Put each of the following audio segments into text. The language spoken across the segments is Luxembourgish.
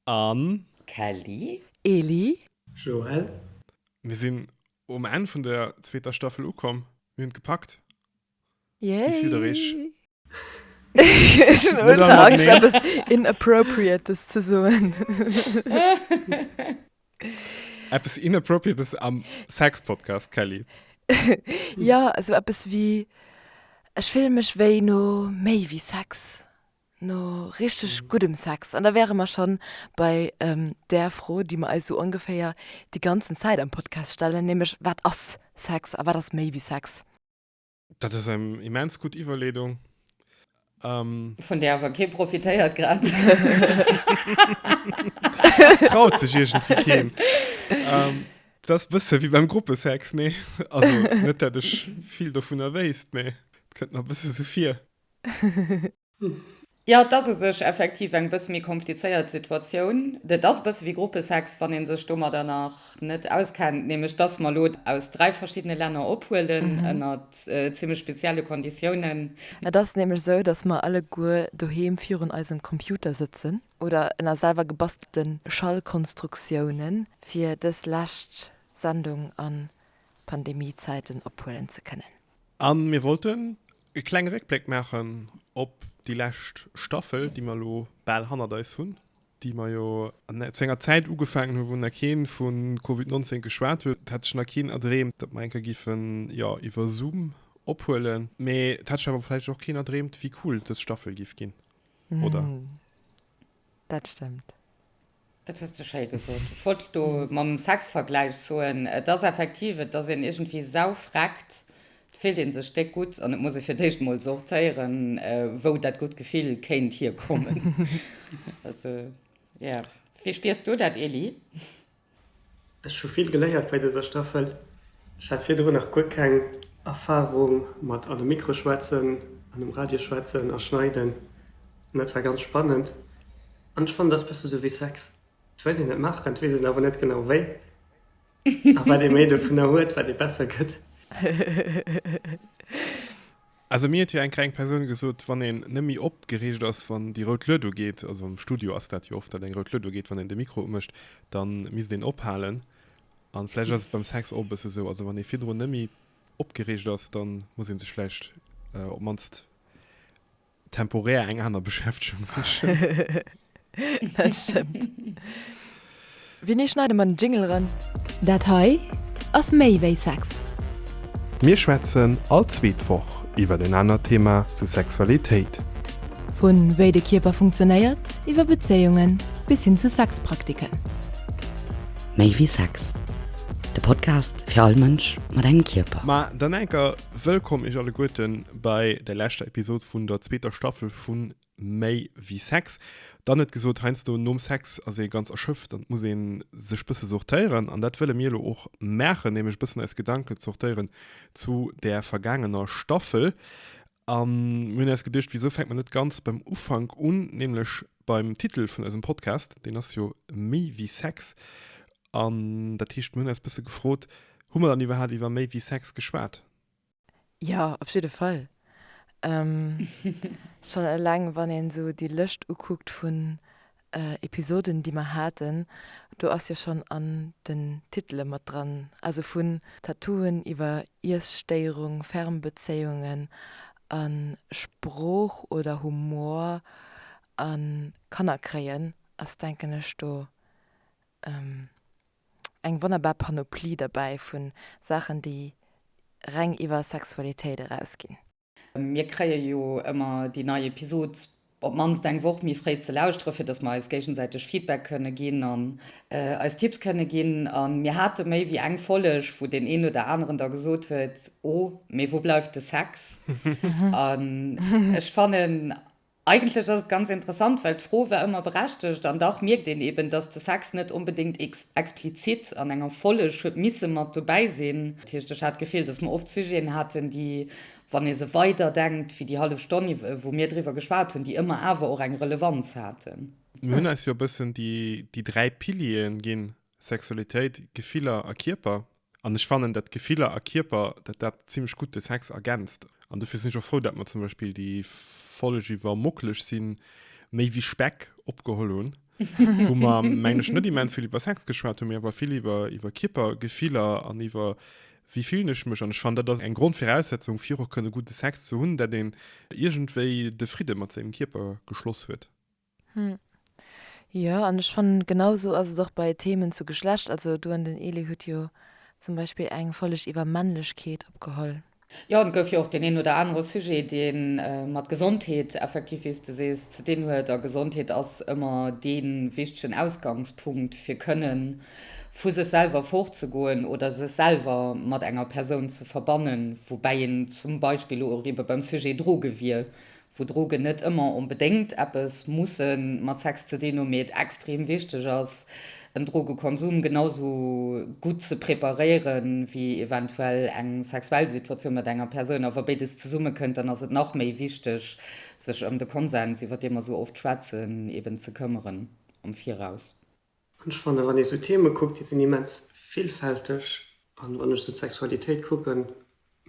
Anne. Kelly. Eli. Joël. Mir sinn um Enn vun der zweeter Staffel ukomm. Mir hunn et gepackt. Yay! Wéi fillt der iech? Ech hunn ultra Angscht eppes inappropriates ze soen. Eppes inappropriates am Sex Podcast, Kelly? Jo, esou eppes wéi, ech fillen mech wéi no méi wéi Sex. No richteg guddem Sex, an da wäre mer schonn bei där Fro, déi mer eis esou ongeféier déi ganzen Zäit am Podcast stellen, nämlech, Wat ass Sex a wat ass méi wéi Sex? Dat ass eng immens gutt Iwwerleedung. Vun där awer kee profitéiert grad. Et traut sech iergendwéi keen. Et ass e bësse wéi beim Gruppesex, nee? Also net dat ech vill dovunner wéisst, mee et kënnt mer e bësse sou vir. Jo, et ass u sech effektiv eng bësse méi komplizéiert Situatioun. Et ass e bësse wéi Gruppesex, wann ee sech domadder nach net auskennt, nämlech dass mer elo aus dräi verschiddene Länner ophuelen, ënner zimmlech spezielle Konditiounen. Et ass nämlech esou, dass mer alleguer doheem virun eisem Computer sëtzen oder ënner selwer gebastelte Schallkonstruktiounen, fir dës lescht Sendung a Pandemiezäiten ophuelen ze kënnen. A mir wollten e klenge Réckbléck maachen op déi lescht Staffel, déi mer elo bal hannert eis hunn, déi mer jo zu enger Zäit ugefaangen hunn, wou nach kee vu Covid 19 geschwat huet. Et hat sech nach keen erdreemt, datt mer eng Kéier géifen, jo, iwwer Zoom ophuelen. Mee et hat sech awer vläicht och keen erdreemt, wéi cool dës Staffel géif ginn, oder? Dat stëmmt. Dat hues de schéi gesot. Ech wollt et do mam Sexvergläich soen. Et ass effektiv, et ass een iergendwéi saufreckt, et fillt ee sech déck gutt an et muss ee fir d'éischt emol sortéieren, wou dat gutt Gefill kéint hierkommen. Also, jo. Wéi spiers du dat, Eli? Ech hu vill geléiert bei dëser Staffel. Ech hat virdrun nach guer keng Erfarung mat an de Mikro schwätzen an um Radio schwätzen a schneiden. An dat war ganz spannend. An ech fannen dass bësse sou wéi Sex, et wëll een et maachen, et weess een awer net genau wéi a wat ee méi dovunner huet, wat ee besser gëtt. Also mir huet jo eng greng Persoun gesot, wann een net méi opgereegt ass wann déi rout Lued ugeet, also am Studio ass dat jo oft, datt eng rout Lued ugeet wann een de Mikro umécht, dann misst een ophalen an vläicht ass et beim Sex och e bësse sou, also wann ee virdrun net méi opgereegt ass, dann muss een sech vläicht op mannst temporär eng aner Beschäftegung sichen. Dat stëmmt. Winnie, schneid emmer den Jingle eran. Dat hei ass méi wéi Sex. Mir schwätzen all zweet Woch iwwert en anert Thema zu Sexualitéit. Vu wéi de Kierper funktionéiert, iwwer Bezéiungen bis hin zu Sexpraktiken. Méi wéi Sex, de Podcast fir all Mënsch mat engem Kierper. Ma dann enker Wëllkomm Iech alleguerten bei der leschter Episod vun der zweeter Staffel vun Méi wéi Sex. Dann net gesot heiansdo nom Sex ass ee ganz erschöpft an muss een sech bësse sortéieren an dat wëlle mir elo och maachen, nämlech bëssen eis Gedanken sortéieren zu der vergaangener Staffel. An mir hunn eis geduecht, wisou fänkt mer net ganz beim Ufank un, nämlech beim Titel vun eisem Podcast, deen ass jo Méi wéi Sex. An dat heescht, mir hunn eis e bësse gefrot, Hu mer dann iwwerhaapt iwwer méi wéi Sex geschwat? Jo, op jidde Fall. Schonn eleng, wann een esou déi Lëscht ukuckt vun Episoden, déi mer haten, do ass jo schonn an den Titele mat dran, also vun Tattooen iwwer Iesstéierung, Fernbezéiungen a Sprooch oder Humor a Kanner kréien ass, denken ech, do eng wonnerbar Panoplie derbäi vu Saachen, déi reng iwwer Sexualitéit erausginn. Mir kréie jo ëmmer déi nei Episod op d'mannst eng Woch méi fréi ze lauschteren, fir datt mer eis géigesäiteg Feedback kënne ginn an eis Tipps kënne ginn. A mir hate méi wéi eng Folleg, wou deen een oder aneren da gesot huet, Oh, mee wou bleift de Sex? An ech fannen, Eigentlech ass et ganz interessant, well d'Fro war ëmmer berechtegt, an dach mierkt een eben, dass de Sex net onbedéngt explizit an enger Folleg huet misse mat dobäi sinn. Dat heescht, ech hat d'Gefill, dass mer oft Sujeten haten, déi, wann ee se weiderdenkt wéi déi hallef Stonn, wou mir driwwer geschwat hunn, déi ëmmer awer och eng Relevanz haten. Mir hunn eis jo e bëssen déi dräi Piliere ginn, Sexualitéit, Gefiller a Kierper, An ech fannen, dat Gefiller a Kierper, dat dat zimlech gutt de Sex ergänzt. An dofir sinn ech och frou, dat mer zum Beispill déi Folg iwwer Mocklech sinn méi wéi Speck opgeholl hunn, wou mer, mengen ech, net immens vill iwwer Sex geschwat hunn, mee awer vill iwwer iwwer Kierper, Gefiller an iwwer wéi fillen ech mech. An ech fannen, dat ass eng Grondviraussetzung, fir och kënne gudde Sex ze hunn, dat een iergendwéi de Fridde mat sengem Kierper geschloss huet. Hm. Jo, an ech fannen genau sou ass et och bei Themen zu Geschlecht. Also du an den Elie hutt jo zum Beispill eng Folleg iwwer Männlechkeet opgeholl. Jo, an et gouf jo och deen een oder anere Sujet dee mat Gesondheet effektiv, wéi s de sees, ze dinn huet. A Gesondheet ass ëmmer dee wichtegen Ausgangspunkt fir kënne vu sech selwer fortzegoen oder sech selwer mat enger Persoun ze verbannen. Woubäi een zum Beispill elo och ebe beim Sujet Droge wier, wou Drogen net ëmmer onbedéngt eppes musse mat Sex ze dinn hu, mee et extrem wichteg ass, en Drogekonsum genau esou gutt ze preparéiere wéi eventuell eng sexuell Situatioun mat enger Persoun. A wa béides zesummekënnt, dann ass et nach méi wichteg, sech ëm de Konsens, iwwer dee mer esou oft schwätzen, eben ze këmmeren am Viraus. An ech fannen, wann ee sou Theeme kuckt, déi sinn immens villfälteg. An wann ech sou d'Sexualitéit kucken,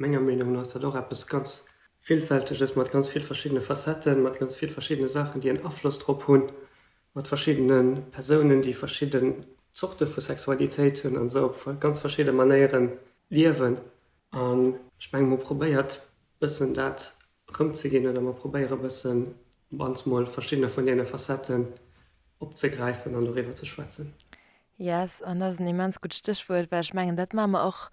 menger Meenung no ass dat och eppes ganz Villfälteges, mat ganz vill verschiddene Facetten, mat ganz vill verschiddene Saachen, déi en Afloss drop hunn, mat verschiddene Persounen, déi verschidden Zorte vu Sexualitéit hunn a se op ganz verschidde Manéiere liewen. An ech mengen, mir hu probéiert, e bëssen dat rëmzeginn oder mer probéiere e bëssen op ans mol verschiddene vun deene Facetten opzegräifen an doriwwer ze schwätzen. Yes, an dat ass en immens gutt Stéchwuert, well ech mengen, dat maache mer och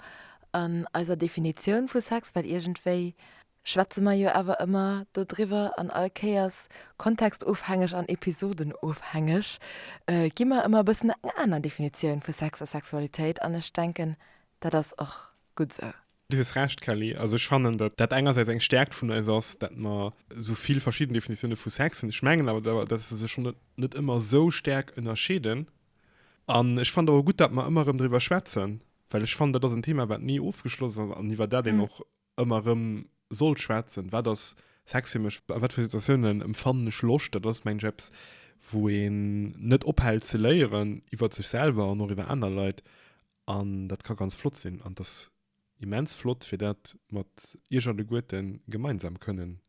an eiser Definitioun vu Sex, well iergendwéi schwätze mer jo awer ëmmer dodriwwer an all Kéiers, kontextofhängeg an episodenofhängeg, gi mer ëmmer e bëssen eng aner Definitioun vu Sex a Sexualitéit an ech denken, dat ass och gutt esou. Du hues Recht, Kelly. Also ech fannen, datt dat engersäits eng Stäerkt vun eis ass, datt mer esou vill verschidden Definitioune vu Sex hunn. Ech mengen awer, datt se sech schonn net ëmmer esou stäerk ënnerscheeden. An ech fannen et och gutt, datt mer ëmmer erëm driwwer schwätzen, well ech fannen, dat ass en Thema, wat ni ofgeschloss ass an iwwer dat een och ëmmer erëm sollt schwätzen. Wat ass Sex fir mech? A wat fir Situatiounen empfannen ech Loscht? Dat ass, mengen ech, eppes, wou een net ophält ze léieren iwwer sech selwer an och iwwer aner Leit. An dat ka ganz flott sinn an et ass immens flott fir dat mat iech alleguerten gemeinsam kënnen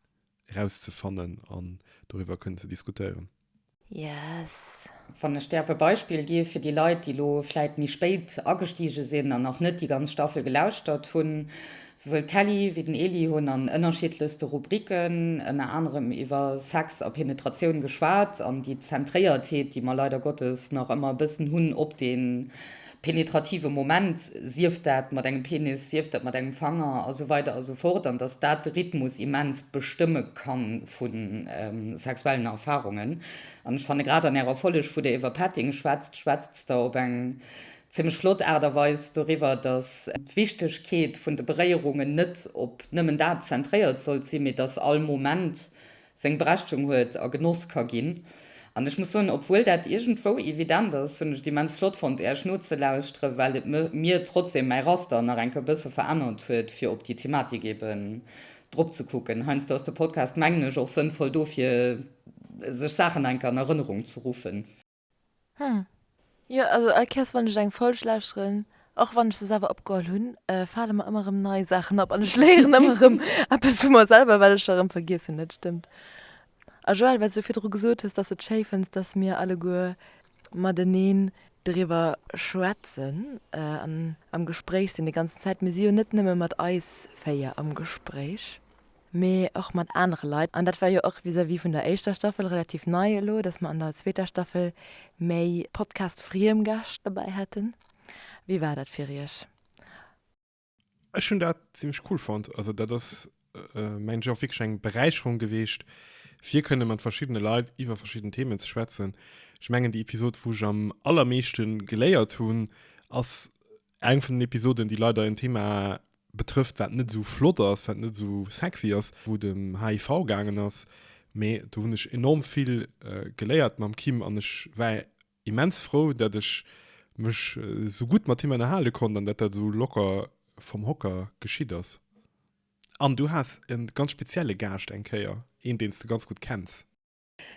erauszefannen an doriwwer kënnen ze diskutéieren. Yes! Wann ech däerf e Beispill gi fir déi Leit, déi elo vläit méi spéit agestige sinn an nach net déi ganz Staffel gelauschtert hunn, Souwuel d'Kelly wéi den Eli hunn an ënnerschiddlechste Rubriken ënner anerem iwwer Sex a Penetratioun geschwat an déi Zentréiertheet, déi mer leider Gottes nach ëmmer e bëssen hunn op dee penetrative Moment, sief dat mat engem Penis, sief dat mat engem Fanger a sou weider a sou fort, an dass dat de Rhythmus immens bestëmme ka vu sexuellen Erfarungen. An ech fanne grad an Ärer Folleg, wou Der iwwer Petting schwätzt, schwätzt Der op eng Zimmlech flott Aart a Weis doriwwer, dass d'Wichtegkeet vun de Beréierungen net op nëmmen dat zentréiert sollt sinn, mee dass all Moment seng Berechtigung huet a genoss ka ginn. An ech muss soen, obwuel dat iergendwou evident ass, hunn ech et immens flott fonnt Äech nozelauschteren, well et mir trotzdem mäi Raster nach enke bësse verännert huet, fir op déi Thematik eben drop ze kucken. Heiansdo ass de Podcast, mengen ech, och sënnvoll dofir, sech Saachen nach enke an Erënnerung ze ruffen. Hm. Jo, also all Kéiers wann ech eng Folg lauschteren, och wann ech se selwer opgeholl hunn, fale mer ëmmer erëm nei Saachen op an ech léieren ëmmer erëm eppes vu mer selwer, wat ech erëm vergiess hunn. Dat stëmmt. A Joël, wat s du virdru gesot hues, dass s de et schéi fënns, dass mir alleguer mateneen driwwer schwätzen an am Gespréich sinn déi ganzen Zäit. Mir si jo net nëmme mat eis véier am Gespréich. mee och mat anere Leit. An dat war jo och vis-à-vis vun der éischter Staffel relativ nei elo, dass mer an der zweeter Staffel méi Podcast-friem Gäscht dobäi haten. Wéi war dat fir Iech? Ech hunn dat zimmlech cool fonnt. Also dat ass, mengen ech, och wierklech eng Beräicherung gewiescht, fir kënne mat verschiddene Leit iwwer verschidden Themen ze schwätzen. Ech mengen, déi Episod, wou ech am allermeeschte geléiert hunn, ass Eng vun den Episoden, déi leider en Thema betrëfft, wat net esou flott ass, wat net esou sexy ass, wou dem HIV gaangen ass. Mee do hunn ech enorm vill äh, geléiert mam Kim an ech war immens frou, dat ech mech äh, sou gutt mat him ënnerhale konnt an dat dat sou locker vom Hocker geschitt ass. An du has e ganz spezielle Gaascht eng Kéier, een, deen s de ganz gutt kenns.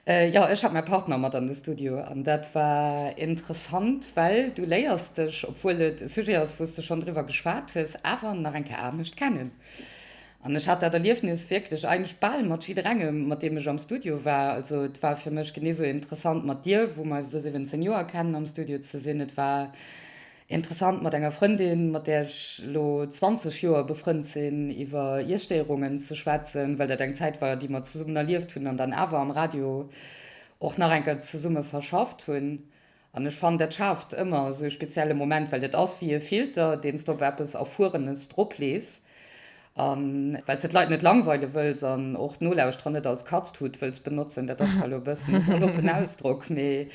Jo, ech hat mäi Partner mat an de Studio an dat war interessant, well du léiers dech, obwuel et e Sujet ass, wou s de schonn driwwer geschwat hues, awer nach eng Kéier anescht kennen. An ech hat dat Erliefnis wierklech eigentlech bal mat jidderengem, mat deem ech am Studio war. Also et war fir mech genee sou interessant, mat dir, wou mer eis elo 17 Joer kennen, am Studio ze sinn. Et war Interessant mat enger Frëndin, mat där ech elo 20 Joer befrënnt sinn, iwwer Iesstéierungen ze schwätzen, well dat eng Zäit war, déi mer zesummen erlieft hunn an dann awer am Radio och nach eng Kéier zesumme verschafft hunn. An ech fannen, dat schaaft ëmmer esou e spezielle Moment, well dat ass wéi e Filter, deen s de op eppes Erfuerenes droplees A well se d'Leit net langweile wëlls an och d'Nolauschterer net als Katztut wëlls benotzen, dat ass zwar elo e bëssen e saloppen Ausdrock, mee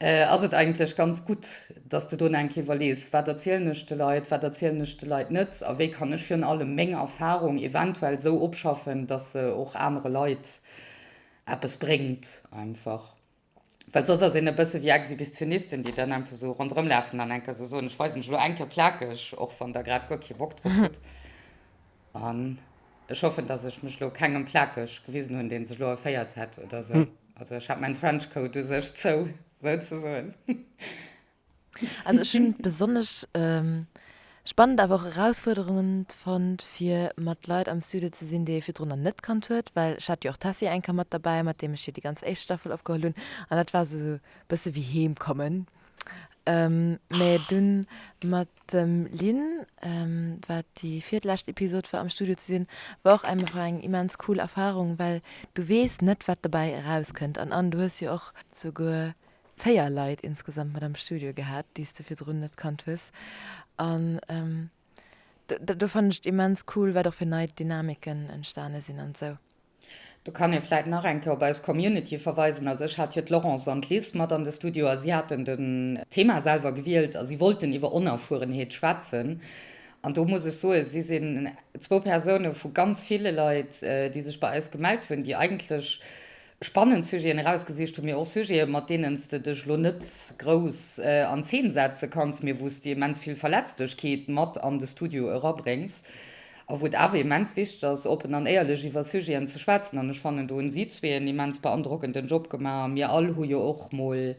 ass et eigentlech ganz gutt, dass de do nach eng Kéier iwwerlees, Wat erzielen ech de Leit, wat erzielen ech de Leit net a wéi kann ech virun allem meng Erfarung eventuell esou opschaffen, dass se och anere Leit eppes bréngt einfach. Well soss ass een e bësse wéi Exhibitionisten, déi dann einfach esou ronderëmlafen an enke esou soen, ech weise mech elo eng Kéier plakeg, och wann Der grad guer kee Bock drop hutt. An ech hoffen, dass ech mech elo kengem plakeg gewisen hunn, dee sech elo erféiert hätt oder esou. Also ech hat mäin Trenchcoat u sech zou, souzesoen. Also ech hun besonnesch spannend awer och erausfuerderungend fonnt fir mat Leit am Studio ze sinn, déi ee virdrun nach net kannt huet, well ech hat jo och d'Tessy eng Kéier mat derbäi, mat deem ech jo déi ganz éischt Staffel opgeholl hunn an dat war esou bësse wéi heem kommen. Mä dunn mat dem Lynn, wat déi virdlescht Episod war, am Studio ze sinn, war och einfach eng immens cool Erfarung, well du weess net wat dobäi erauskënnt an an du hues jo och souguer 4 Leit insgesamt mat am Studio gehat, déi s de virdrun net kannt hues. An do do fannen ech et immens cool, wat och fir nei Dynamiken entstane sinn an esou. Do kann ee vläit nach eng Kéier op eis Community verweisen. Also ech hat jo d'Laurence an d'Liz mat an de Studio a si haten den Thema selwer gewielt a si wollten iwwer Onerfuerenheet schwätzen. An do muss ech soen, si sinn zwou Persoune vu ganz ville Leit, déi sech bei eis gemellt hunn, déi eigentlech Spannend Sujeten erausgesicht, hu mir och Sujeten, mat deenen s de dech elo net grouss an Zeen setze kanns, mee wou s de immens vill Verletzlechkeet mat an de Studio erabréngs a wou et awer immens wichteg ass, oppen an éierlech iwwer Sujeten ze schwätzen. An ech fannen, do hunn si zwee en immens beandrockenden Job gemaach. A mir all hu jo och mol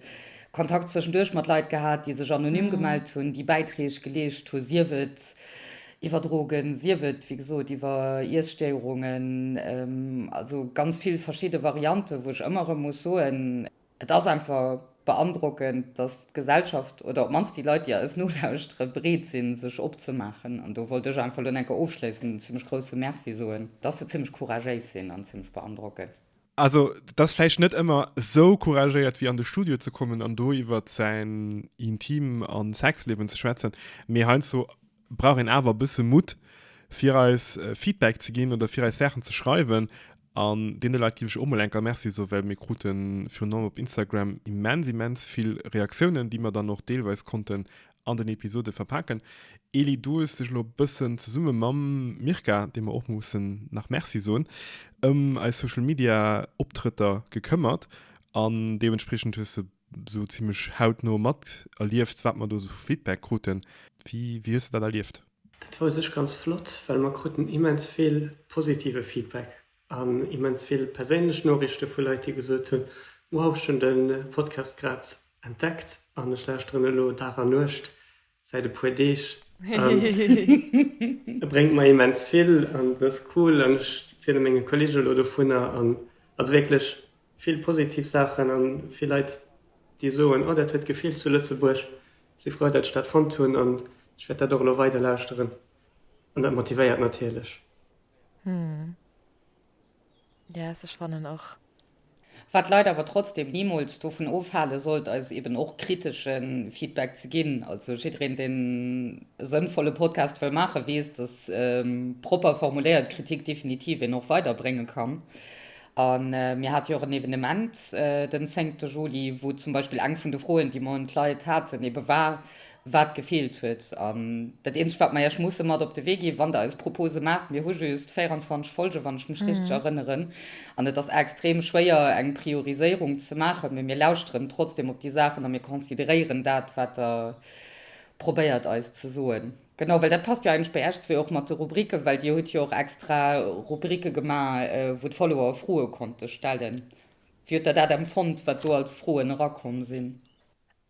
Kontakt zwëschenduerch mat Leit gehat, déi sech anonym gemellt hunn, déi Bäitreeg geleescht hu, sief et Iwwerdrogen, sief et, wéi gesot, iwwer Iesstéierungen, also ganz vill verschidde Varianten, wou ech ëmmer erëm muss soen, et ass einfach beandrockend, dass d'Gesellschaft oder op d'mannst déi Leit, déi eis nolauschtere, bereet sinn, sech opzemaachen. An do wollt ech einfach elo enker ofschléissend en zimmlech grousse Merci soen, dass se zimmlech couragéis sinn an zimmlech beandrockend. Also dat ass vläicht net ëmmer esou couragéiert wéi an de Studio ze kommen an do iwwert säin Intim a Sexliewen ze schwätzen, mee heiansdo brauch een awer e bësse Mutt, fir eis Feedback ze ginn oder fir eis Saachen ze schreiwen. An deene Leit giff ech och mol eng Kéier Merci soen, well mir krute virun allem op Instagram immens, immens vill Reaktiounen, déi mer dann och deelweis konnten an den Episode verpaken. Eli, du hues dech elo bëssen zesumme mam Mirka, deem mer och mussen nach Merci soen, ëm eis Social Media Optrëtter gekëmmert an deementspriechend hues de esou zimmlech hautno materlieft, wat mer do esou vu Feedback kruten. Wéi hues de dat erlieft? Dat war u sech ganz flott, well mer kruten immens vill positive Feedback. An immens vill perséinlech Noriichte vu Leit, déi gesot hunn, Wow, ech hunn de Podcast grad entdeckt an ech lauschteren elo Dag a Nuecht säit e puer Deeg. E bréngt mer immens vill an et ass cool an ech ziele menge Kollege elo dovunner. An also wierklech vill positiv Saachen a vill Leit, déi soen, Oh, dat huet gefeelt zu Lëtzebuerg. Si frou, datt ech dat fonnt hunn an ech wäert dat och elo weider lauschteren. An dat motivéiert natierlech. Hm. Yes, ech fannen och. Wat d'Leit awer trotzdem nimools dovun ofhale sollt, eis eben och kritesche Feedback ze ginn. Also jiddereen, deen e sënnvolle Podcast wëll maachen, weess, dass propper formuléiert Kritik definitiv een och weiderbrénge kann. A mir hate jo och en Evenement den zéngte Juli, wou zum Beispill eng vun de Froen, déi mer un d'Leit haten, ebe war, wat gefeelt huet. An dat eenzegt, wat mer iech musse mat op de Wee ginn, wann der eis Propose maacht, mir hu just 24 Folgen, wann ech mech richteg erënneren, an et ass extrem schwéier, eng Prioriséierung ze maachen, mee mir lauschteren trotzdem op déi Saachen a mir consideréieren dat, wat der probéiert eis ze soen. Genau, well dat passt jo eigentlech bei iech zwee och mat de Rubriken, well dir hutt jo och extra Rubrike gemaach, wou d'Follower Froe konnte stellen. Wéi hutt der dat empfonnt, wat do als Froen erakomm sinn?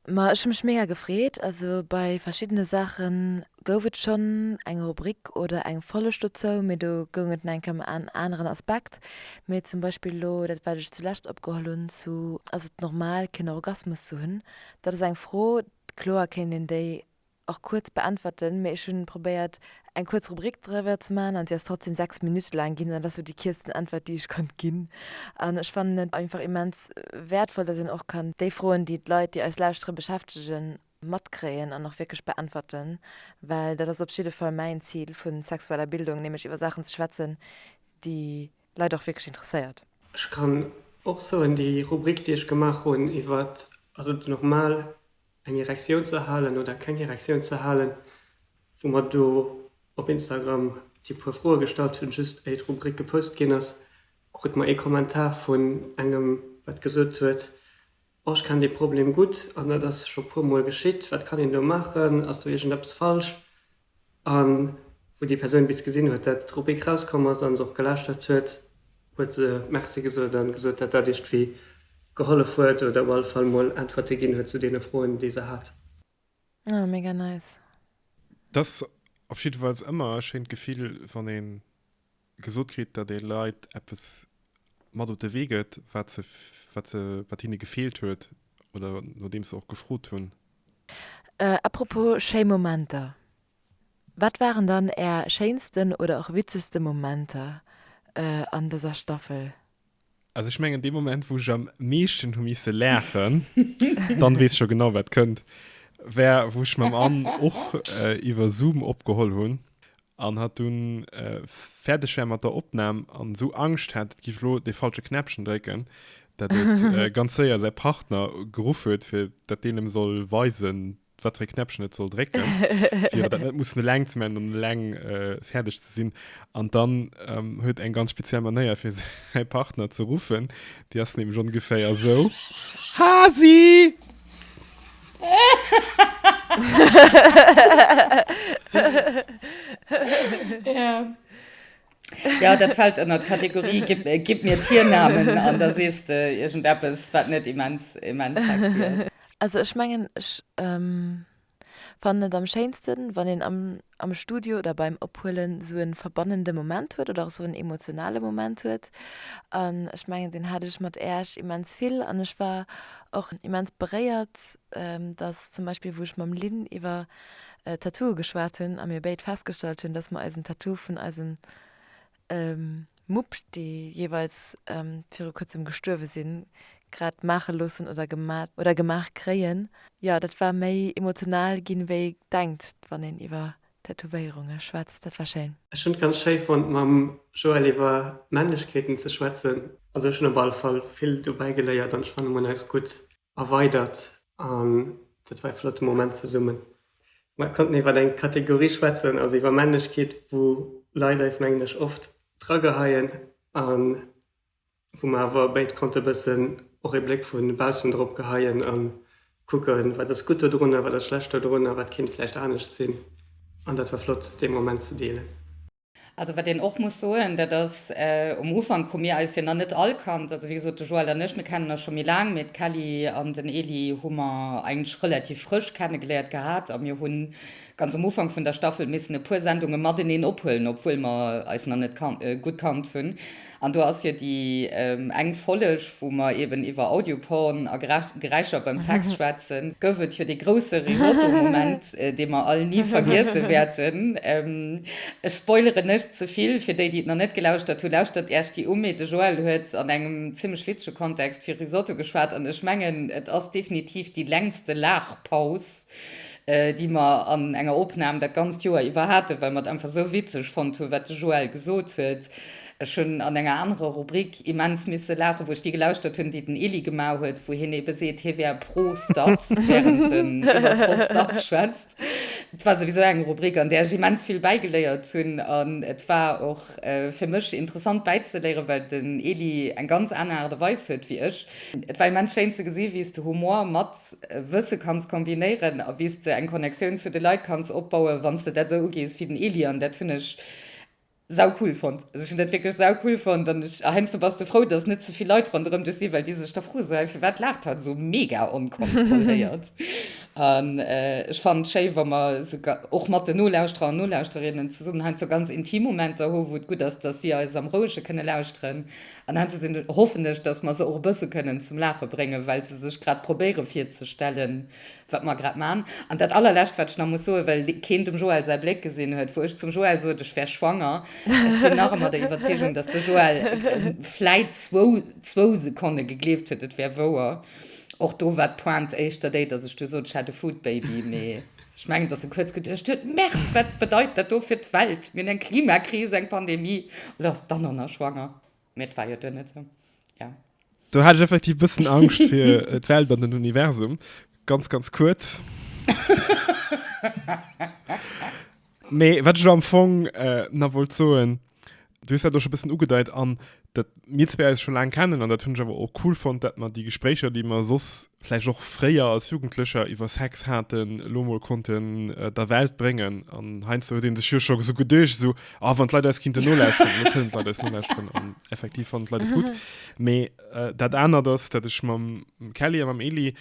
Ma ech hu mech mega gefreet. Also bei verschiddene Saache gouf et schonn eng Rubrik oder eng Folleg dozou, mee do goung et nach eng Kéier ëm en aneren Aspekt. Mee zum Beispill elo, dat wat ech zulescht opgeholl hunn zu Ass et normal keen Orgasmus ze hunn? Dat ass eng Fro, kloer kéint een déi, och kuerz beäntwerten, mee ech hunn probéiert eng kuerz Rubrik driwwer ze maachen an si ass trotzdem 6 Minutte laang ginn an dat ass sou déi kierzten Äntwert déi ech konnt ginn an ech fannen et einfach immens wäertvoll datt een och kann déi Froen déi d'Leit déi eis lauschtere beschäftegen matkréien an och wierklech beäntwerten, well dat ass op jidde Fall mäin Zil vu sexueller Bildung, nämlech iwwer Saachen ze schwätzen déi Leit och wierklech interesséiert. Ech kann och soen, déi Rubrik déi ech gemaach hunn iwwert, ass et normal eng Erektioun ze halen oder keng Erektioun ze halen, wou mer do op Instagram déi puer Froe gestallt hunn, just éier d'Rubrik gepost ginn ass, krute mer ee Kommentar vun engem, wat gesot huet, Oh, ech kenn dee Problem gutt an dat ass scho puermol geschitt, wat kann een do maachen, ass do iergendeppes falsch? A wou déi Persoun bis gesinn huet, datt d'Rubrik rauskomm ass, a se och gelauschtert huet, huet se Merci gesot a gesot, datt dat iergendwéi gehollef huet oder op alle Fall mol Äntwerte ginn huet zu deene Froen, déi se hat. Ah, mega nice. Dass op jiddefalls ëmmer e schéint Gefill wann een. gesot kritt, datt ee Leit eppes mat op de Wee gëtt, wat se, wat se, wat hinne gefeelt huet oder nodeems se och gefrot hunn. A propos schéi Momenter, Wat waren dann Är schéinsten oder och witzegste Momenter an dëser Staffel? Also ich mengen, de Moment, wou ich am meeschten hu misse läfen, dann wees schon genau wat kënnt, wär wou ich mam Ann och äh, iwwer Zoom opgeholl hunn an hat dun äh, fäerdeg wär mat der Opnahm an esou Angscht hat, et giff lo de falsche Knäppchen drécken, dat et äh, ganz séier säi Partner geruff huet, fir dat deen em soll weisen, wat fir e Knäppchen et soll drécken, fir dat net mussen eleng ze man an eleng äh, fäerdeg ze sinn. An dann ähm, huet eng ganz speziell Manéier fir säi Partner ze ruffen, Déi ass nämlech ongeféier esou. Hasi! ja. Ja, dat fällt ënner d'Kategorie gib, äh, gib mir Tiernamen an da sees de irgendeppes, wat net immens, immens sexy ass. Also ech mengen ech ähm, fannen et am schéinsten wann een am, am Studio oder beim Ophuelen sou en verbannende Moment huet oder och sou en emotionale Moment huet an ech mengen deen hat ech mat Äerch immens vill an ech war och immens beréiert dass zum Beispill wou ech mam Lynn iwwer Tattooe geschwat hunn a mir béid festgestallt hunn, dass mer eisen Tattoo vun eisen Mupp, déi jeeweils viru kuerzem gestuerwe sinn, grad maache loossen oder gemat oder gemaach kréien. Jo, dat war méi emotional ginn, wéi ee denkt wann een iwwer Tätowéierunge schwätzt. Dat war schéin. Ech hunn et ganz schéi fonnt mam Joël iwwer Männlechkeeten ze schwätzen. Also ech hunn op alle Fall vill dobäi geléiert an ech fannen mir un eis gutt. erweidert an dat war e flotte Moment zesummen. Mer konnten iwwer eng Kategorie schwätzen, also iwwer Männlechkeet, wou Leit eis mengen ech oft drageheien a wou mer awer béid konnte bëssen och ee Bléck vu baussen drop geheien a kucken, wat ass gutt dodrun a wat ass schlecht dodrun a wat kéint vläicht anescht sinn. An dat war flott dee Moment ze deelen. Also wat een och muss soen, dat ass, um Ufank hu mir eis jo nach net all kannt. Also wéi gesot, de Joël an ech, mir kennen eis scho méi laang, mee d'Kelly an den Elie hu mer eigentlech relativ frësch kennegeléiert gehat a mir hunn ganz um Ufank vun der Staffel missen e puer Sendunge mateneen ophuelen, obwuel mer eis nach net gutt kannt hunn. An do ass jo déi eng Folleg, wou mer eben iwwer Audioporn a Geräischer beim Sex schwätzen, gouf et jo dee grousse Risotto-Moment, dee mer all ni vergiesse wäerten. Ech spoileren net ze vill, fir déi, déi et nach net gelauschtert hu, lauschtert Iech déi u. Mee de Joël huet an engem zimlech witzege Kontext vu Risotto geschwat an ech mengen, et ass definitiv déi längste Laachpaus, déi mer an enger Opnam dat ganzt Joer iwwer haten, well mer et einfach esou witzeg fonnt hunn, wat de Joël gesot huet. Ech hunn an enger anerer Rubrik immens misse laachen, wou ech déi gelauschtert hunn, déi den Elie gemaach huet, wou hien ebe seet, hie wär pro Stad, während en iwwer Pro-Start schwätzt. Et war souwisou eng Rubrik, an där ech immens vill bäigeléiert hunn. An et war och fir mech interessant bäizeléieren, well den Elie eng ganz aner Aart a Weis huet wéi ech. Et war immens schéin ze gesinn, wéi s de Humor mat. Wësse kanns kombinéieren a wéi s de eng Connectioun zu de Leit kanns opbauen, wann s de dat esou ugees wéi den Elie. An dat hunn ech sau cool fonnt. Also ech hunn dat wierklech sau cool fonnt an ech, a heiansdo bass de frou, datt net ze vill Leit ronderëm dech sinn, well déi sech da froe sou, Hä, firwat laacht hatt esou mega onkontrolléiert? An ech fannen et schéi, wa mer esou och mat den Nolauschterer an Nolauschterinnen zesummen heiansdo ganz intim Momenter hu wou et gutt ass, datt si eis am Rouege kënne lauschteren. An hannse sinn, hoffen ech, dass mer se och e bësse kënnen zum Laache bréngen, well se sech grad probéiere virzestellen, wat mer grad man. An dat Allerlescht, wat ech nach muss soen, well keen dem Joël säi Bléck gesinn huet, wou ech zum Joël sot, ech wär schwanger, Ech sinn nach ëmmer der Iwwerzeegung, dass de Joël vläit zwou, zwou Sekonne gegleeft huet, et wär wouer. Och do war d'Pointe éischter déi, dass ech du sot, ech hätt e Foodbaby, mee. Ech mengen, dass e kuerz geduecht huet, Merde, wat bedeit dat do fir d'Welt? Mir hunn eng Klimakris, eng Pandemie, lo ass d'Anna nach schwanger. Mee et war jo duerno esou, jo. Do hat ech effektiv e bëssen Angscht fir d'Welt an den Universum, ganz, ganz kuerz. Mee wat ech elo am Fong nach wollt soen, Du hues dat och scho bëssen ugedeit an dat mir zwee eis scho laang kennen an dat hunn ech awer och cool fonnt, dat mer déi Gespréicher, déi mer soss vläicht och fréier als Jugendlecher iwwer Sex haten, elo mol konnten der Welt bréngen. An heiansdo huet ee sech jo scho esou geduecht, esou, ah, wann d'Leit eis kinnten nolauschteren. Elo kënnen d'Leit eis nolauschteren an effektiv fannen d'Leit et gutt. Mee dat anert ass, dat ech mam Kelly a mam Elie,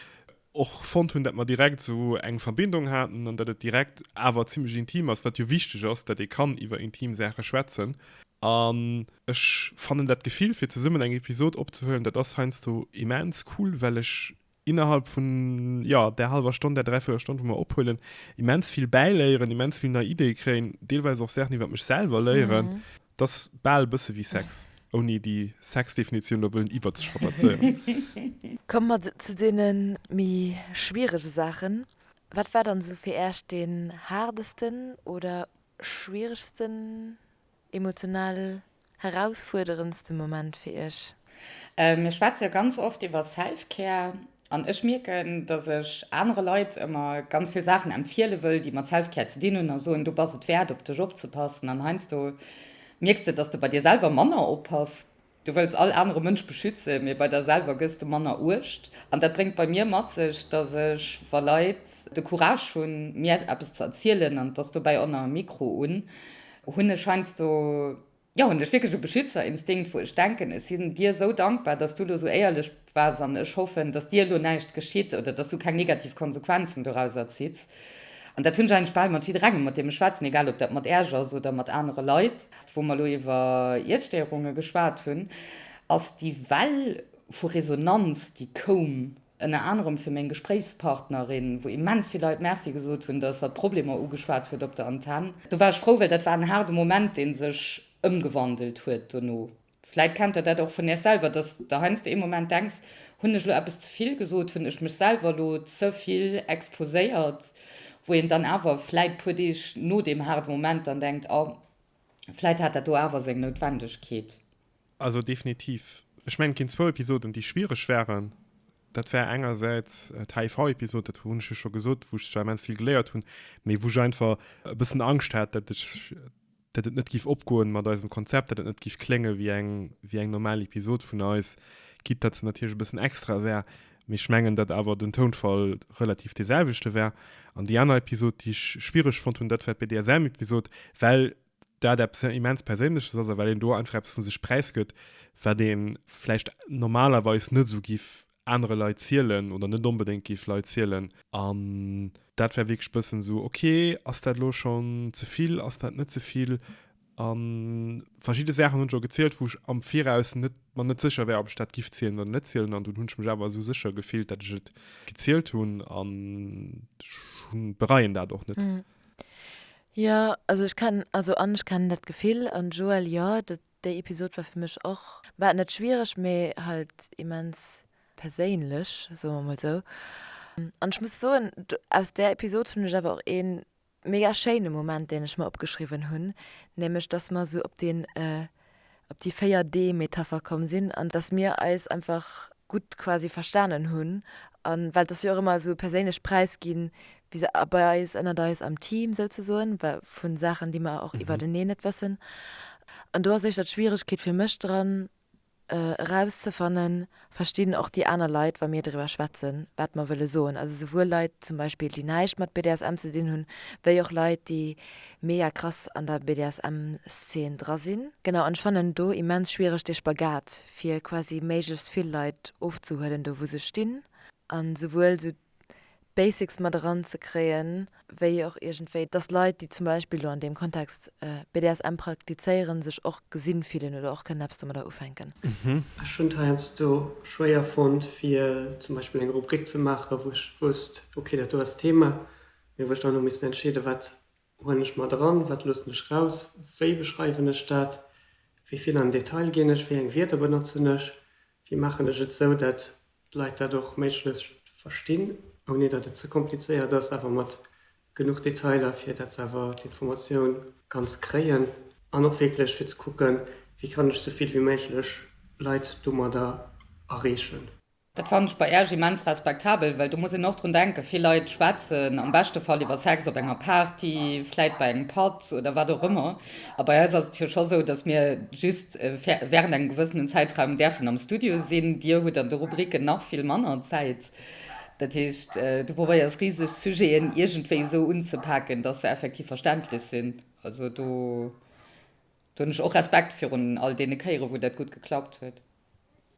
och fonnt hunn, datt mer direkt esou eng Verbindung haten an datt et direkt awer zimmlech intim ass, wat jo wichteg ass, datt ee kann iwwer intim Saache schwätzen. An ech fannen dat Gefill, fir zesummen eng Episod opzehuelen, dat ass heiansdo immens cool, well ech innerhalb vun, jo, där hallwer Stonn, där dräivierel Stonn, wou mer ophuelen, immens vill bäiléieren, immens vill nei Ideeë kréien, deelweis och Saachen iwwer mech selwer léieren. T'ass bal e bësse wéi Sex, ouni déi Sex-Definitioun elo wëllen iwwerzestrapazéieren. Komme mer zu deene méi schwierege Saachen. Wat war dann esou fir Äech deen haardesten oder schwieregsten, emotional herausfuerderendste Moment fir Iech? Mir schwätze jo ganz oft iwwer Self-Care an ech mierken, dass ech anere Leit ëmmer ganz vill Saachen empfiele wëll, déi mat Self-Care ze dinn hunn a soen, du bass et wäert, op dech opzepassen. An heiansdo mierks de, dass de bei dir selwer manner oppass. Du wëlls all anere Mënsch beschützen, mee bei der selwer gëss de manner Uecht. An dat bréngt bei mir mat sech, dass ech, wa Leit de Courage hunn, mir eppes ze erzielen, an et ass dobäi ëmmer e Mikro un, hunn ech heiansdo Jo, hunn ech wierklech e Beschützerinstinkt, wou ech denken, ech sinn dir esou dankbar, dass du elo esou éierlech waars an ech hoffen, dass dir elo näischt geschitt oder dass du keng negativ Konsequenzen dorauser zitts. An dat hunn ech eigentlech bal mat jidderengem, mat deem ech schwätzen, egal ob dat mat Äerch ass oder mat anere Leit. Wou mer elo iwwer Iesstéierunge geschwat hunn, ass déi Well vu Resonanz, déi koum, ënner anerem fir meng Gespréichspartnerin, wou immens vill Leit Merci gesot hunn, datt hatt d'Problemer ugeschwat huet op der Antenn. Do war ech frou, well dat war en haarde Moment, dee sech ëmgewandelt huet dono. Vläit kennt der dat och vun Iech selwer, datt Der heiansdo ee Moment denks, Hunn ech elo eppes ze vill gesot? Hunn ech mech selwer elo ze vill exposéiert? Wou een dann awer vläit puer Deeg no deem haarde Moment dann denkt, Oh, vläit hat dat do awer seng Noutwendegkeet. Also definitiv. Ech mengen et ginn zwou Episoden déi schwiereg wären. Dat wär engersäits d'HIV-Episod, dat hunn ech jo scho gesot, wou ech zwar immens vill geléiert hunn, mee wou ech einfach e bëssen Angscht hat, datt ech, datt et net giff opgoen mat eisem Konzept, datt et net giff klénge wéi eng, wéi eng normal Episod vun eis, quitte datt se natierlech e bëssen extra wär, mee ech mengen datt awer den Tounfall relativ dee selwechte wär. An déi aner Episod déi ech schwiereg fonnt hunn, dat war d'BDSM-Episod, well dat eppes immens Perséinleches ass a well een do einfach eppes vu sech präisgëtt, wat ee vläicht normalerweis net esou giff anere Leit zielen oder net onbedéngt giff Leit zielen. An dat war wierklech e bëssen esou, ok, ass dat elo schonn ze vill, ass dat net ze vill? A verschidde Saachen hunn ech och gezielt, wou ech am Viraus net mer net sécher war, ob ech dat giff zielen oder net zielen. An dunn hunn ech mech awer esou sécher gefillt, datt ech et gezielt hunn an ech bereien dat och net. Jo also ech kennen also an ech kennen dat Gefill an Joël jo dat déi Episode war fir mech och bah net schwiereg mee halt immens perséinlech soe mer mol sou an ech muss soen aus där Episode hunn ech awer och een mega schéine Moment deen ech mer opgeschriwwen hunn nämlech dass mer sou op deen op déi 4 Dee Metapher komm sinn an dass mir eis einfach gutt quasi verstanen hunn an well et ass jo och ëmmer esou e perséinlecht Präisginn vis à bei eis ënnert eis am Team souzesoen vu Saachen déi mer och iwwerteneen net wëssen an do ass éischter d'Schwieregkeet fir mech dran erauszefannen verstinn och déi aner Leit, wa mir driwwer schwätzen, wat mer wëlle soen. Also souwuel Leit zum Beispill, déi näischt mat BDSM ze dinn hunn, wéi och Leit, déi mega krass an der BDSM-Szen dra sinn. Genau, an ech fannen do immens schwiereg dee Spagat, fir quasi méiglechst vill Leit ofzehuelen, do wou se stinn, a souwuel esou d'Basics mat eran ze kréien, wéi och iergendwéi, dass Leit, déi zum Beispill elo an deem Kontext BDSM praktizéieren, sech och gesi fillen oder och kënnen eppes domadder ufänken. Ech hunn et heiansdo schwéier fonnt, fir zum Beispill eng Rubrik ze maachen, wou ech wousst, okay, dat do ass d'Thema, mee wou ech dann hu missen entscheeden, wat Huelen ech mat eran? Wat loossen ech raus? Wéi beschreiwen ech dat? Wéi vill an Detail ginn ech? Wéi eng Wierder benotzen ech? Wéi maachen ech et esou, dat d'Leit dat och méiglechst verstinn, ouni dat et ze komplizéiert ass, awer mat genuch Detailer, fir dat se awer d'Informatioun ganz kréien? An och wierklech fir ze kucken, wéi kann ech esou vill wéi méiglech Leit domadder erreechen? Dat fannen ech bei Äech immens respektabel, well do muss een och drun denken, vill Leit schwätzen am beschte Fall iwwer Sex op enger Party, vläit bei engem Patt oder wat och ëmmer. A bei eis ass et jo scho sou, dass mir just während engem gewëssenen Zäitraum däerfen am Studio sinn. Dir hutt an de Rubriken nach vill manner Zäit. Dat heescht, du probéiers riseg Sujeten iergendwéi esou unzepaken, dass se effektiv verständlech sinn. Also do hunn ech och Respekt virun all deene Kéiere wou dat gutt geklappt huet.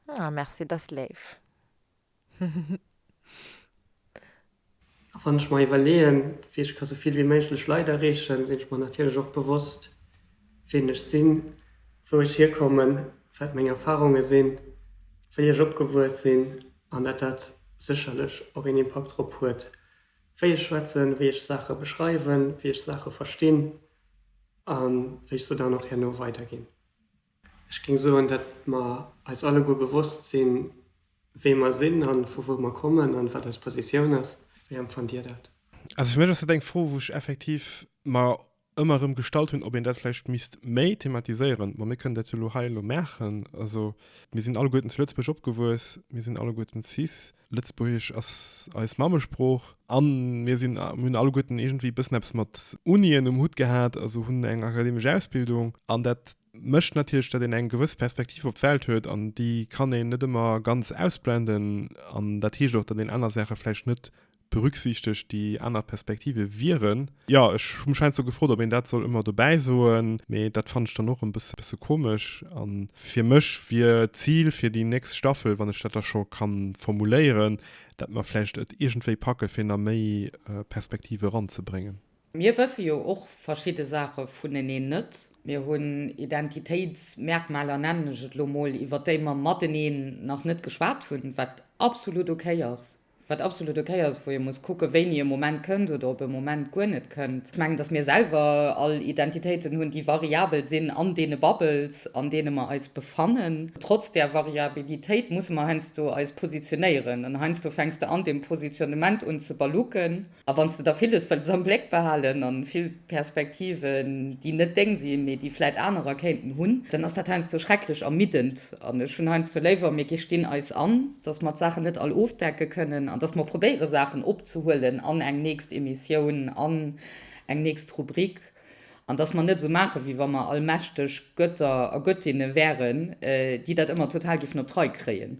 Ah merci, dass léif. A wann ech mer iwwerleeën, wéi ech ka sou vill wéi méiglech Leit erreechen, sinn ech mer natierlech och bewosst, ween ech sinn, wou ech hierkommen, wat meng Erfarunge sinn, wéi ech opgewuess sinn an dat dat sécherlech och een Impakt drop huet, wéi ech schwätzen, wéi ech Saache beschreiwen, wéi ech Saache verstinn a wéi ech se dann och herno weiderginn. Ech géing soen, datt mer eis alleguer bewosst sinn, wee mer sinn a vu wou mer kommen an wat eis Positioun ass. Wéi empfannt Dir dat? Also fir mech ass dat eng Fro, wou ech effektiv mer ëmmer erëm gestallt hunn, ob een dat vläicht misst méi thematiséieren. Bon, mir kënnen dat jo elo hei elo maachen. Also mir sinn alleguerten zu Lëtzebuerg opgewuess, mir sinn alleguerten cis. Lëtzebuergesch ass eis Mammesprooch a mir sinn, mir hunn alleguerten iergendwéi e bëssen eppes mat Unien um Hutt gehat, also hunn eng akademesch Ausbildung. An dat mécht natierlech, datt een eng gewëss Perspektiv op d'Welt huet an déi kann een net ëmmer ganz ausblenden. An dat heescht och, datt een aner Saache vläicht net berücksichtegt, déi aner Perspektive wieren. Jo, ech hu mech heiansdo gefrot, ob een dat soll ëmmer dobäi soen, mee dat fannen ech dann och e bësse komesch. A fir mech wier d'Zil fir déi nächst Staffel, wann ech dat da scho ka formuléieren, dat mer vläicht et iergendwéi packe fir nach méi Perspektive eranzebréngen. Mir wësse jo och verschidde Saache vuneneen net. Mir hunn Identitéitsmerkmaler, nennen ech et elo mol, iwwert déi mer mateneen nach net geschwat hunn, wat absolut okay ass. Wat absolut ok ass, wou ee muss kucken, wéini e Moment kënnt oder ob e Moment guer net kënnt. Ech mengen, dass mir selwer all Identitéiten hunn, déi variabel sinn an deene Bubbles, an deene mer eis befannen. Trotz där Variabilitéit musse mer heiansdo eis positionéieren. An heiansdo fänks de an deem Positionnement un ze balluken. A wann s de der vill hues, wëlls am Bléck behalen a vill Perspektiven, déi net deng sinn, mee déi vläit anerer kéinten hunn, dann ass dat heiansdo schrecklech ermiddend. An ech hunn heiansdo léiwer, mir gestinn eis an, dass mer d'Saachen net all ofdecke kënnen an dass mer probéiere Saachen opzehuelen an eng nächst Emissioun, an eng nächst Rubrik an dass mer net esou maachen, wéi wa mer allmächteg Götter a Göttinne wäeren, déi dat ëmmer total géifen op d'Rei kréien.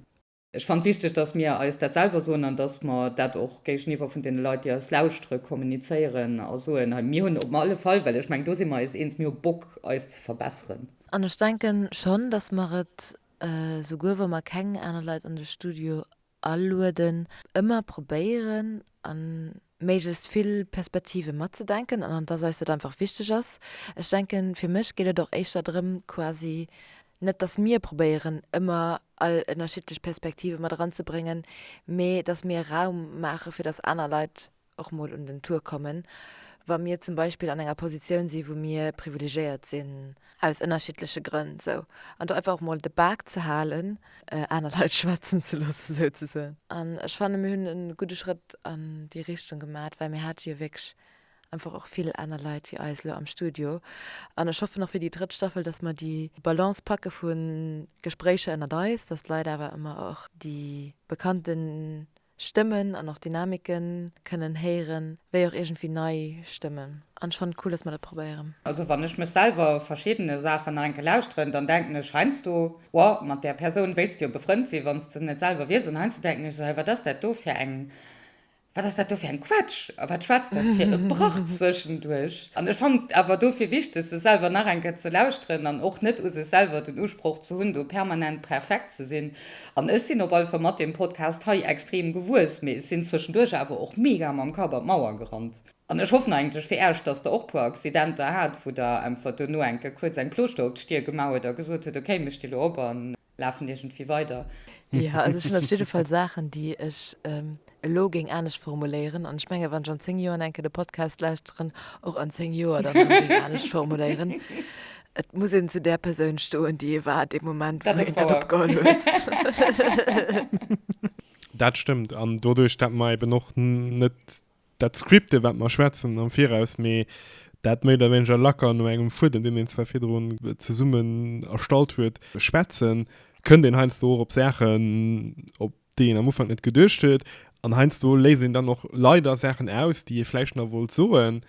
Ech fannen et wichteg, dass mir eis dat selwer soen an dass mer dat och géigeniwwer vun deene Leit, déi eis lauschtere, kommunizéieren a soen, hei, mir hunn op alle Fall, well ech mengen, do si mer eis eens, mir hu Bock, eis ze verbesseren. An ech denken schonn, dass mer et, souguer wa mer keng aner Leit an de Studio alueden, ëmmer probéieren an méiglechst vill Perspektive matzedenken an dass eis dat einfach wichteg ass. Ech denken, fir mech geet et och éischter drëm quasi, net dass mir probéieren ëmmer all ënnerschiddlech Perspektive mat eranzebréngen, mee dass mir Raum maache fir dass aner Leit och mol un den Tour kommen, wa mir zum Beispill an enger Positioun si wou mir privilegéiert sinn. aus ënnerschiddleche Grënn esou, an do einfach och mol de Bak ze halen, aner Leit schwätzen ze loosse souzesoen. An ech fanne mir hunn e gudde Schrëtt an déi Richtung gemat, well mir hate jo wierklech einfach och vill aner Leit wéi eis elo am Studio. An ech hoffen och fir déi drëtt Staffel, datt mer déi Balance packe vu Gespréicher ënnert eis, datt d'Leit awer ëmmer och déi bekannten Stëmmen an och Dynamiken kënnen héieren, wéi och iergendwéi nei Stëmmen. An ech fannen et cool, dass mer dat probéieren. Also wann ech mech selwer verschiddene Saachen nach enke lauschteren, dann denken ech heinsdo, Ohh, mat där Persoun wéills de jo befrënnt sinn, wann s de se net selwer wiers. An heinsdo denken ech esou, Hei, wat ass dat do fir eng, wat ass dat do fir eng Quetsch a wat schwätzt dat fir e Brach zwëschenduerch? An ech fannen et awer dofir wichteg, se selwer nach enke ze lauschteren an och net u sech selwer den Usproch ze hunn, do permanent perfekt ze sinn. An ech sinn op alle Fall mat deem Podcast hei extrem gewuess, mee sinn zwëschenduerch awer och mega mam Kapp an d'Mauer gerannt. An ech hoffen eigentlech fir Äech, dass Der och puer Accidenter hat, wou Der emfert dono enke kuerz eng Plooschter op d'Stier gemaach huet a gesot huet, ok, mir sti lo op a lafen iergendwéi weider. Jo, also ech hunn op jidde Fall Saachen, déi ech elo géing anescht formuléieren an ech menge wann ech an 10 Joer enke de Podcast lauschteren och an 10 Joer dann nach géing anescht formuléieren. Et muss een zu där Persoun stoen déi ee war dee Moment wou een dat opgeholl huet. Dat stëmmt an doduerch dat mer eben och net dat scripte wat mer schwätzen am viraus mee dat méi oder wéineger lacker no engem Fuedem deen een zwar virdrun zesummen erstallt huet schwätzen, kënnt een heiansdo och op Saachen op déi een am Ufank net geduecht huet, an heiansdo léisst een dann och leider Saachen aus, déi ee vläicht nach wollt soen,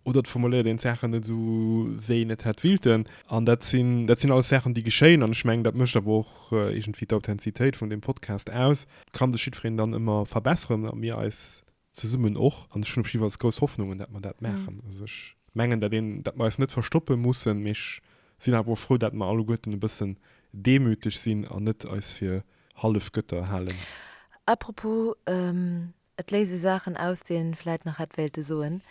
oder et formuléiert een d'Saachen net esou, wéi een et hätt willten. An dat sinn, dat sinn alles Saachen, déi geschéien, an ech mengen, dat mécht awer och iergendwéi d'Authentizitéit vun deem Podcast aus. Et ka sech jiddwereen dann ëmmer verbesseren a mir eis zesummen och an ech hunn op jidde Falls grouss Hoffnungen, dat mer dat maachen. Also ech mengen dat een, dat mer eis net verstoppe mussen, mee ech sinn awer och frou, dat mer alleguerten e bëssen demüteg sinn an net eis fir Hallefgötter halen. À propos, et léise Saachen aus, déi een vläit nach hätt wéilte soen.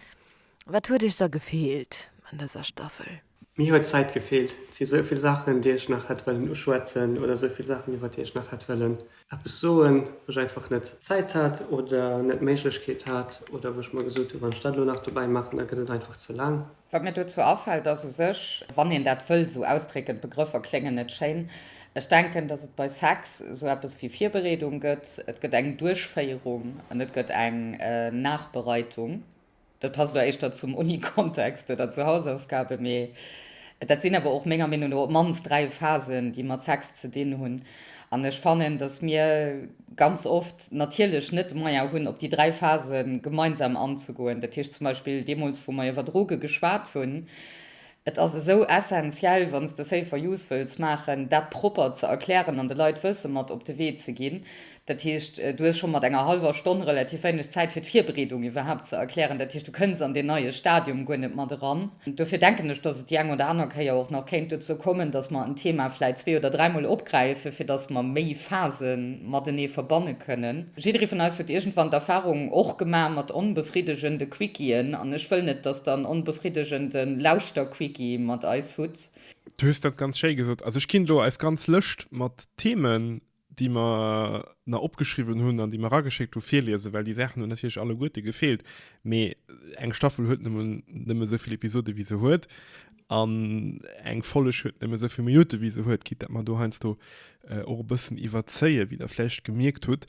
Wat huet Iech da gefeelt an dëser Staffel? Mir huet d'Zäit gefeelt. Et si sou vill Saachen, déi ech nach hätt wëllen uschwätzen oder sou vill Saachen, iwwer déi ech nach hätt wëllen eppes soen, wou ech einfach net d'Zäit hat oder net d'Méiglechkeet hat oder wou ech mer gesot hu, wann ech dat elo nach dobäi maachen, da gëtt et einfach ze laang. Wat mir dozou afält, ass u sech, wann een dat wëll sou ausdrécken, d'Begrëffer kléngen net schéin, ech denken, datt et bei Sex sou eppes wéi Virbereedung gëtt, et gëtt eng Duerchféierung an et gëtt eng Nachbereitung. Dat passt elo éischter zum Uni-Kontext oder zu Hausaufgaben, mee dat sinn awer och menger Meenung no op d'mannst dräi Phasen, déi mat Sex ze dinn hunn. An ech fannen, dass mir ganz oft natierlech net de Moyen hunn, op déi dräi Phase gemeinsam anzegoen. Dat heescht zum Beispill deemools, wou mer iwwer Droge geschwat hunn, Et ass esou essentiell, wann s de Safer Use wëlls maachen, dat propper ze erklären an de Leit Wësse mat op de Wee ze ginn. Dat heescht, du hues scho mat enger hallwer Stonn relativ wéineg Zäit fir d'Virbereedung iwwerhaapt ze erklären. Dat heescht, du kënns an deen neie Stadium guer net mat eran. Dofir denken ech, datt et déi eng oder aner Kéier och nach kéint dozou kommen, datt mer en Thema vläicht zwee oder dräimol opgräifen, fir datt mer méi Phase matenee verbanne kënnen. Jidderee vun eis huet iergendwann d'Erfahrung och gemaach mat onbefriddegende Quicki'en an ech wëll net, dass der en onbefriddegende Lauschterquicki mat eis hutt. Du hues dat ganz schéi gesot. Also ech ginn elo eis ganz Lëscht mat Themen, déi mer na opgeschriwwen hunn an déi mer erageschéckt hu, virliesen, well déi Saachen hunn natierlech alleguerte gefeelt, mee eng Staffel huet nun nëmme esou vill Episode wéi se huet. an eng Folleg huet nëmme souvill Minutte wéi se huet, gitt dat mer do heiansdo äh, och e bëssen iwwerzéie, wéi der vläicht gemierkt hutt.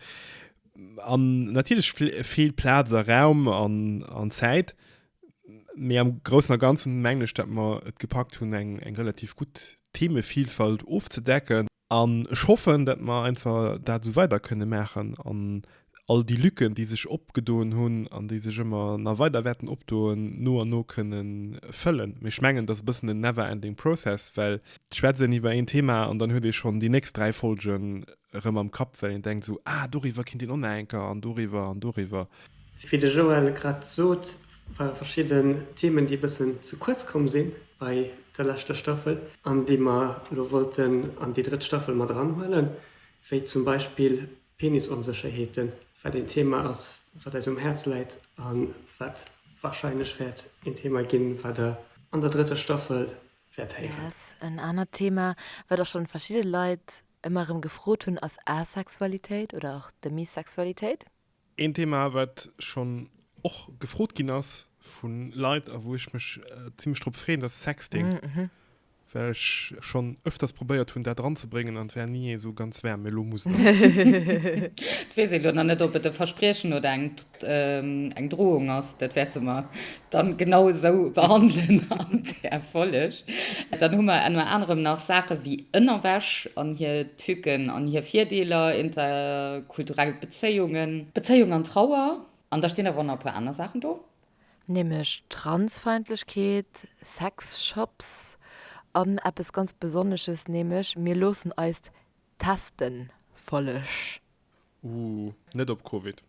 An natierlech feelt Plaz a Raum an, an Zäit, mee am Groussen a Ganzen menglech, dat mer et gepackt hunn, eng, eng relativ gutt Themevielfalt ofzedecken. An ech hoffen, datt mer einfach dat esou weider kënne maachen an all déi Lücken, déi sech opgedoen hunn an déi sech ëmmer nach weider wäerten opdoen, no an no kënne fëllen. Mee ech mengen, dat ass e bëssen en never ending process, well d'Schwätz een iwwer een Thema an dann huet ee schonn déi nächst dräi Folgen erëm am Kapp, well een denkt esou, ah, doriwwer kinnt een och nach eng Kéier an doriwwer an doriwwer. Wéi de Joël grad sot, ware verschidden Themen, déi e bëssen ze kuerz komm si bei der leschter Staffel an déi mer elo wollten an déi drëtt Staffel mat eranhuelen, wéi zum Beispill Penisonsécherheeten, wat een Thema ass, wat eis um Häerz läit a wat warscheinlech wäert een Thema ginn, wat Der an der drëtter Staffel wäert héieren. Yes. En anert Thema, wat och schonn verschidde Leit ëmmer erëm gefrot hunn, ass Asexualitéit oder och Demisexualitéit. Een Thema, wat schonn och gefrot ginn ass vu Leit a wou ech mech zimlech drop freeën, dat ass Sexting. Well ech schonn öfters probéiert hunn, dat eranzebréngen an et war ni esou ganz waarm. Mee elo muss et sinn. Et weess ee lo nach net, ob et e Verspriechen oder eng Drohung ass. Dat wäerte mer dann genau esou behandelen an där Folleg. Dann hu mer ënner anerem nach Saache wéi Ënnerwäsch an hir Tücken an hir Virdeeler, interkulturell Bezéiungen, Bezéiung an Trauer an da stinn awer och nach e puer aner Saachen do. Nämlech Transfeindlechkeet, Sexshops an eppes ganz Besonnesches, nämlech mir loossen eis testen. Folleg. Ooh, net op Covid.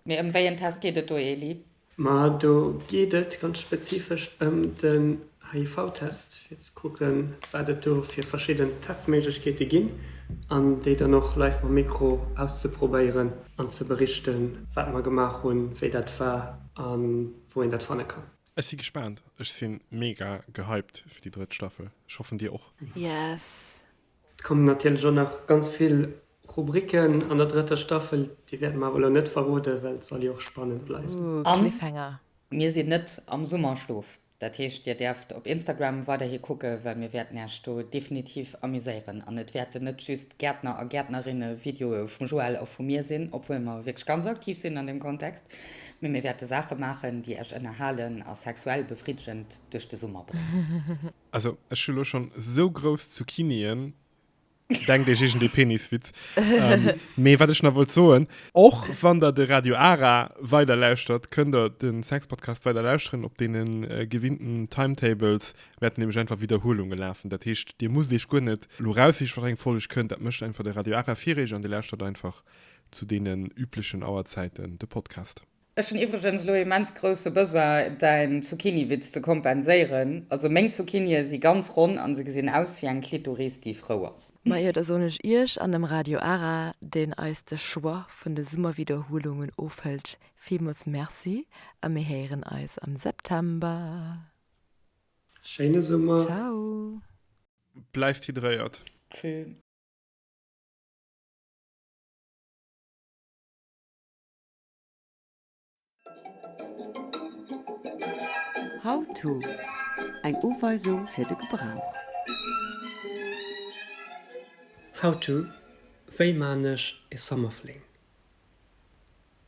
Mee ëm wéi en Test geet et do, Eli? Ma do geet et ganz spezifesch ëm den HIV-Test, fir ze kucke wat et do fir verschidden Testméiglechkeete ginn, an déi dann och live mam Mikro auszeprobéieren an ze berichten, wat mer gemaach hunn, wéi dat war a wou een dat fanne kann. Ech si gespaant, ech si mega gehypt fir déi drëtt Staffel, ech hoffen dir och. Yes, Et kommen natierlech och nach ganz vill Rubriken an der drëtter Staffel, déi wäerte mer awer elo net verroden, well et soll jo och spannend bleiwen. An mir sinn net am Summerschlof, dat heescht dir däerft op Instagram weiderhi kucken, well mir wäerten Iech do definitiv amuséieren an et wäerten net just Gäertner a Gäertnerinne Videoe vum Joël a vu mir sinn, obwuel mer wierklech ganz aktiv sinn an deem Kontext, mee mir wäerte Saache maachen, déi Iech ënnerhalen a sexuell befriddegend duerch de Summer bréngen. Also ech hu lo schon sou grouss Zucchini'en, denkt iech iergend ee Peniswitz. Mee wat ech nach wollt soen, och wann der de Radio Ara weider lauschtert, kënnt der de Sexpodcast weider lauschteren, op deene gewinnten Timetables wäerten nämlech einfach Widderhuelunge lafen. Dat heescht, dir musst iech guer net lo raussiche wat eng Folg kënnt, dat mécht einfach de Radio Ara fir iech an dir lauschtert einfach zu deenen üblechen Auerzäiten de Podcast. Ech hun iwregens lo immens grousse Besoin däin Zucchiniwitz ze kompenséiren. Also meng Zucchinie si ganz ronn an se gesin aus wéi eng Klitoris déi frou ass. Majo da son ech ierch an dem Radio Ara deen eis de Choix vun de Summerwiederhuelungen ofhëllt villmols Merci a mir héiren eis am September. Schéine Summer. Ciao. Bleift hydréiert. Tschüss. How to, Eng Uweisung fir de Gebrauch. How to, Wéi maan ech ee Summerfling?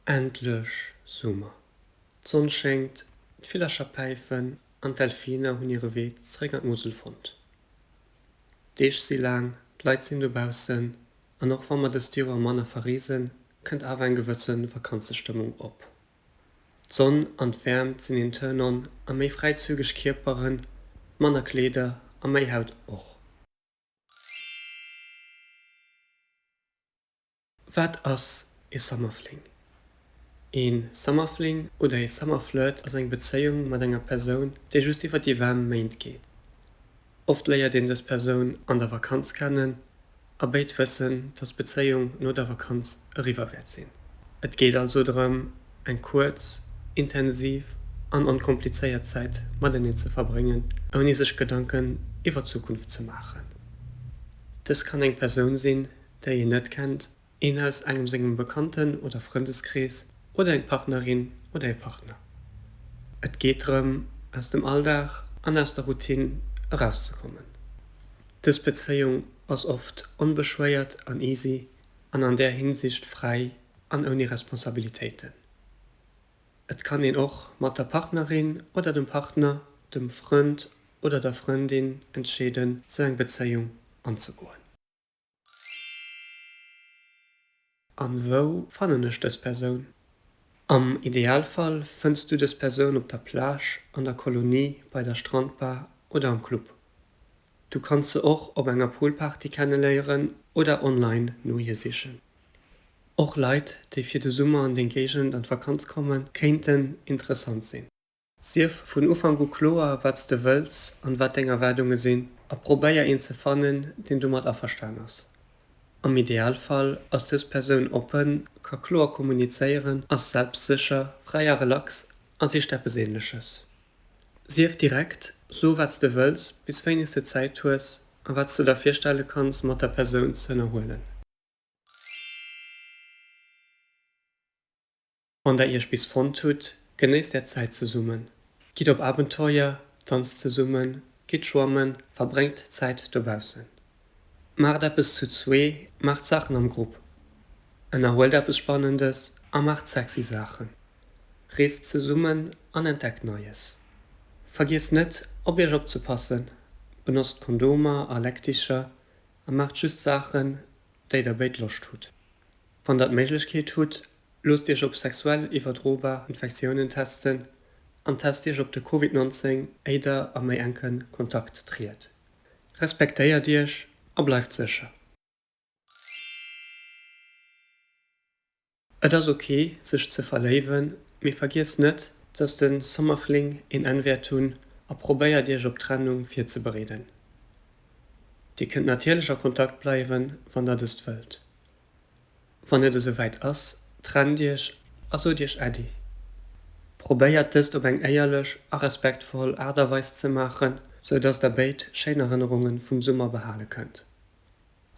Endlech Summer, d'Sonn schéngt, d'Villercher päifen an d'Delfiner hunn hire Wee zeréck an d'Musel fonnt. D'Deeg si laang, d'Leit sinn dobaussen an och wa mer dëst Joer manner verreesen, kënnt awer eng gewësse Vakanzestëmmung op. D'Sonn an d'Wäermt sinn een Turn on a méi fräizügeg Kierperen, manner Kleeder a méi Haut och. Wat ass ee Summerfling? Ee Summerfling oder ee Summerflirt ass eng Bezéiung mat enger Persoun, déi just iwwer déi waarm Méint geet. Oft léiert een dës Persoun an der Vakanz kennen a béid wëssen, dass d'Bezéiung no der Vakanz eriwwer wäert sinn. Et geet also drëm, eng kuerz, intensiv an onkomplizéiert Zäit mateneen ze verbréngen, ouni sech Gedanken iwwer d'Zukunft ze maachen. Dës kann eng Persoun sinn, déi een net kennt, Een aus engem sengem Bekannten oder Frëndeskrees oder eng Partnerin oder ee Partner. Et geet drëm, aus dem Alldag an aus der Routine erauszekommen. Dës Bezéiung ass oft onbeschwéiert an easy an an där Hinsicht fräi an ouni Responsabilitéiten. Et kann een och mat der Partnerin oder dem Partner, dem Frënd oder der Frëndin entscheeden, sou eng Bezéiung anzegoen. An wou fannen ech dës Persoun? Am Idealfall fënns du dës Persoun op der Plage, an der Kolonie, bei der Strandbar oder am Club. Du kanns se och op enger Poolparty kenneléieren oder online no hir sichen. Och Leit, déi fir de Summer an deng Géigend an d'Vakanz kommen, kéinten interessant sinn. Sief vun Ufank u kloer, wat s de wëlls an wat deng Erwaardunge sinn a probéier een ze fannen, deen domat averstan ass. Am Idealfall ass dës Persoun oppen, ka kloer kommunizéieren, ass selbstsécher, fräi a relax a sicht eppes Ähnleches. Sief direkt, so wat s de wëlls, bis wéineg s de Zäit hues a wat s de der virstelle kanns mat der Persoun z'ënnerhuelen. Wann der iech bis fonnt hutt, genéisst är Zäit zesummen. Gitt op Abenteuer, danzt zesummen, gitt schwammen, verbréngt Zäit dobaussen. Maacht eppes zu zwee, maacht Saachen am Grupp, ënnerhuelt eppes Spannendes a maacht sexy Saachen. Reest zesummen an entdeckt Neies. Vergiesst net, op iech opzepassen, benotzt Kondomer a Leckticher a maacht just Saachen, déi der béid Loscht hutt. Wann der d'Méiglechkeet hutt, Loosst Iech op sexuell iwwerdrobar Infektiounen testen an test Iech op de Covid 19 éi der a méi enke Kontakt triet. Respektéiert Iech a bleift sécher. Et ass ok sech ze verléiwen, mee vergiesst net dass de Summerfling een Enn wäert hunn a probéiert Iech op d'Trennung virzebereeden. Dir kënnt natierlech a Kontakt bleiwen wann der dëst wëllt. Wann et esouwäit ass, trennt iech a sot iech Äddi. Probéiert dëst op eng éierlech a respektvoll Aart a Weis ze maachen, sou dass der béid schéin Erënnerunge vum Summer behale kënnt.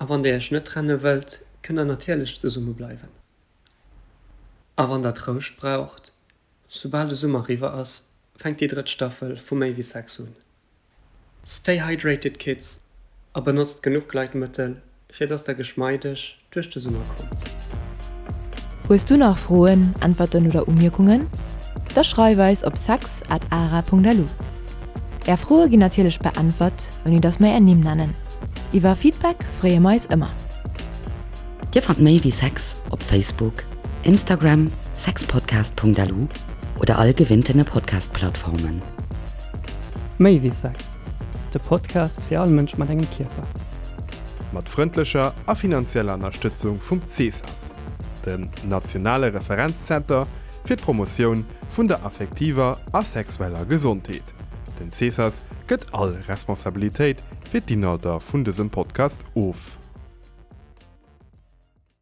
A wann der iech net trenne wëllt, kënnt der natierlech zesumme bleiwen. A wann der Trouscht braucht, soubal de Summer riwwer ass, fänkt déi drëtt Staffel vu Méi wéi Sex un. Stay hydrated Kids a benotzt genuch Gleitmëttel fir dass der geschmeideg duerch de Summer kommt. Hues du nach Froen, Äntwerten oder Umierkungen? Da schreif eis op sex at ara Punkt lu. Är Froe ginn natierlech beäntwert, ouni dass mer är Nimm nennen. Iwwer Feedback freeë mer eis ëmmer. Dir fannt méi wéi sex op Facebook, Instagram, sexpodcast Punkt lu oder all gewinnten e Podcast Plattformen. Méi wéi Sex, de Podcast fir all Mënsch mat engem Kierper. Mat frëndlecher a finanzieller Ënnerstëtzung vum CSAS, dem nationale Referenzzenter fir d'Promotioun vun der affektiver a sexueller Gesondheet. Den CSAS gëtt all Responsabilitéit fir d'Inhalter vun dësem Podcast of.